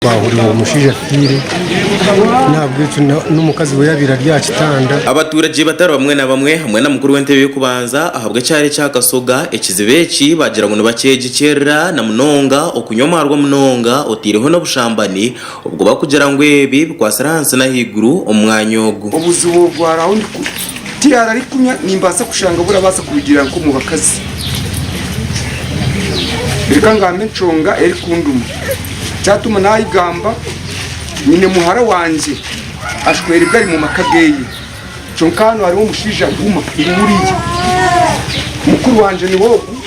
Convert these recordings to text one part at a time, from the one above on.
Twahurira ngu omushaija afiire n'ahabw'ekyo n'omukazi we yaabaire ari aha kitanda. Abaturage batari bamwe na bamwe hamwe na mukuru w'entebe y'okubanza ahabw'ekyaro ekya Kasoga ekizibu eki baagira ngu nibakyegyekyerera na munonga okunywa omwarwa munonga otaireho n'obushambani obwo bakugira ngu ebi bikwatsire ahansi n'ahaiguru omu mwanya ogu. Obuzibu obwaraho ni ku tiyaaba arikunywa nimbaasa kushanga burabaasa kurugiirira nk'omu bakazi. Reka ngambe enshonga erikunduma. Kyatuma naayegamba, Nyine muhara wangye ashwerwe gari mu maka ge. Kyonka hanu hariho omushaija arikuguma ngu Uria. Mukuru wangye niwe ogu,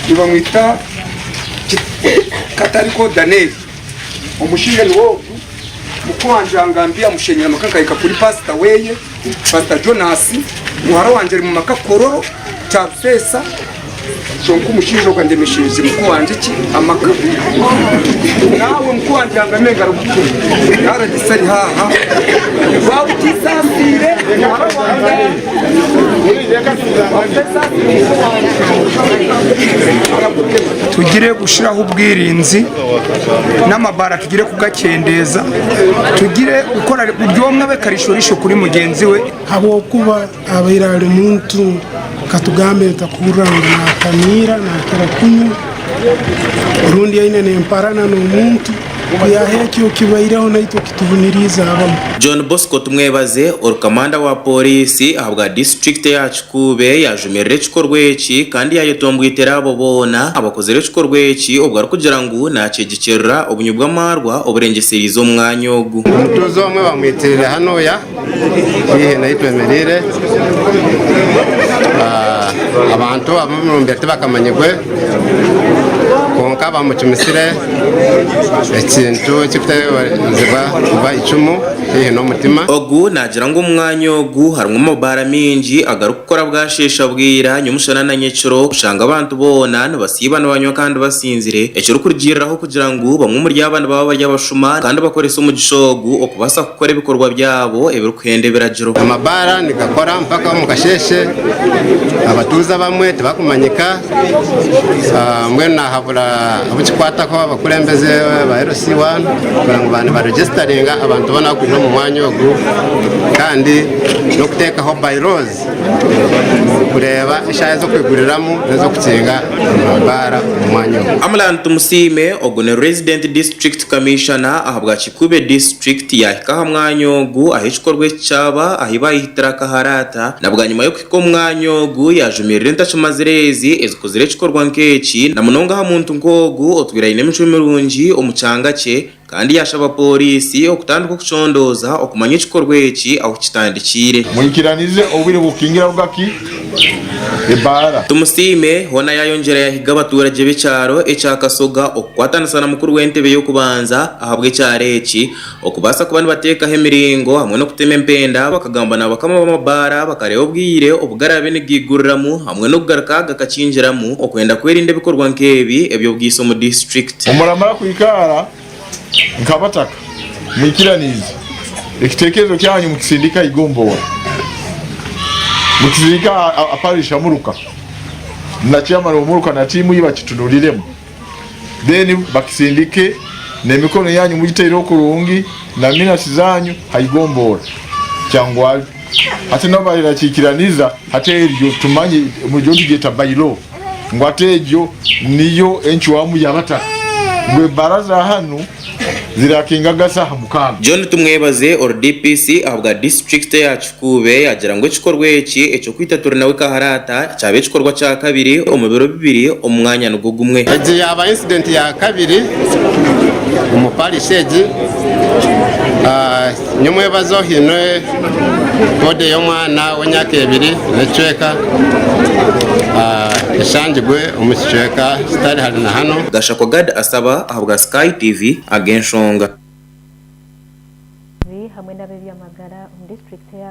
nibamwita Katariko Danieli. Omushaija niwe ogu, mukuru wangye yangambira mushenyere amaka nkahika kuri paasita we. Pasita Jonasi, muhara wangye ari mu maka kukororo kyarufeesa kyonka omushaija ogu andemeshereize muka wangye ki amaka. Naawe muka wangye ihangame engaro buto. Rdc ari haaha. Waaba otisaasiire muhara wangye otesaasiire muka wangye, arakutema. Tugire kushiraho obwirinzi. n'amabaara tugire kugakyendeeza, tugire kukora buri omwe abe karishorisho kuri mugyenzi we. Ahabw'okuba abaire ari muntu, katugambe nitakuhurira ngu naatamiira, naakira kunywa, rundi aine n'emparana n'omuntu, ku yaaha ekyo kibaireho naitwe kitubuniriize abamu. John Bosco Tumwebaze, oru kamanda wa pooriisi ahabwa disiturikiti ya Kikuuba, Kuube yaajumirira ekikorwa eki kandi yaayetomboitera abo boona abakozire ekikorwa eki obu arikugira ngu naakyegyikirira obunywi bw'amaarwa oburengyesereize omu mwanya ogu. Omutunzi omwe bamwitiire hanuuya haihi n'ahu twemereire. Abantu ab'omurumbya tibakamanyirwe, kwonka baamucumisire ekintu ekirikutebeekanisiibwa kuba eicumu. haihi n'omutima. Ogu naagira ngu omu mwanya ogu harimu amabaara maingi agarikukora bwasheesha bwira, nyomushana na nyekiro, kushanga abantu boona nibasiiba nibanywa kandi basinzire, ekirikurugiiriraho kugira ngu bamwe omuri aba nibaba bari abashuma kandi bakoresa omugisha ogu okubaasa kukora ebikorwa byabo ebirikuhenda ebiragiro. Amabaara nigakora mpaka omu kasheeshe, abatuuze abamwe tibakumanyika. Mbwenu nahabura abukikwataho abakurembeze ba LC1 kugira ngu ba nibaregisitaringa abantu boona abakwija omu mwanya ogu kandi n'okuteekaho by laws kureeba eshaaha ez'okwiguriramu n'ez'okukinga amabaara omu mwanya ogu. Amlan Tumusiime, ogu ni Resident District Commissioner ahabwa Kikube District yaahika aha mwanya ogu ahu ekikorwa eki kyaba ahu baayehitire akaharaata na bwanyima y'okuhitsya Kwonka omwanya ogu yaajumirira entakimazire ezi ezikuzire ekikorwa nk'eki, na munonga aha muntu nk'ogu otwire aine emicwe mirungi omu kyanga kye, kandi yaashaba pooriisi okutandika okucondooza okumanya ekikorwa eki ahu kitandikiire. Mwikiranize obwire bw'okukingira aruga ki ebaara. Tumusiime hoona yaayongyera yahiga abatuuragye b'ekyaro ekya Kasoga okukwatanisa na mukuru w'entebe y'okubanza ahabw'ekyaro eki, Okubaasa kuba nibateekaho emiringo hamwe n'okutema empenda, bakagamba n'abakama b'amabaara bakareeba obwire obu garaabe nigaiguriramu hamwe n'okugaruka gakakingiramu okwenda kwerinda ebikorwa nk'ebi eby'obwiso omu disiturikiti. Muramara kwikaara nk'abataka mwikiraniize ekitekerezo kyanyu mukisindika aha igomboora, mukisindika aha parish ya Muruka na chairman wa Muruka na tiimu ye bakitunuuriremu. then bakisindike nemikono yanyu mugiteireho kurungi na minasi zanyu haigomboora kyangwari hati nabo bahera kikiraniza hati eryo tumanye muryo nitugyeta by law ngu hati egyo niyo encwamu yabataka ngu ebaraza hanu zirakinga agazi aha mukaano. John Tumwebaze ori DPC ahabwa disiturikiti ya Kikuube yaagira ngu ekikorwa eki eky'okwita Turi Nawe Kaharaata kyaba ekikorwa kya kabiri omu biro bibiri omu mwanya nigwo gumwe. Egi yaaba incident ya kabiri omu parish egi. Ni omwebazo ohaine boda ey'omwana w'emyaka ebiri n'ekicweka eshangirwe omu kicweka kitari hare na hanu. Gashakwa Gad Asaba ahabwa Sky TV ag'enshonga. Abarinzi hamwe n'ab'ebyamagara omu district ya.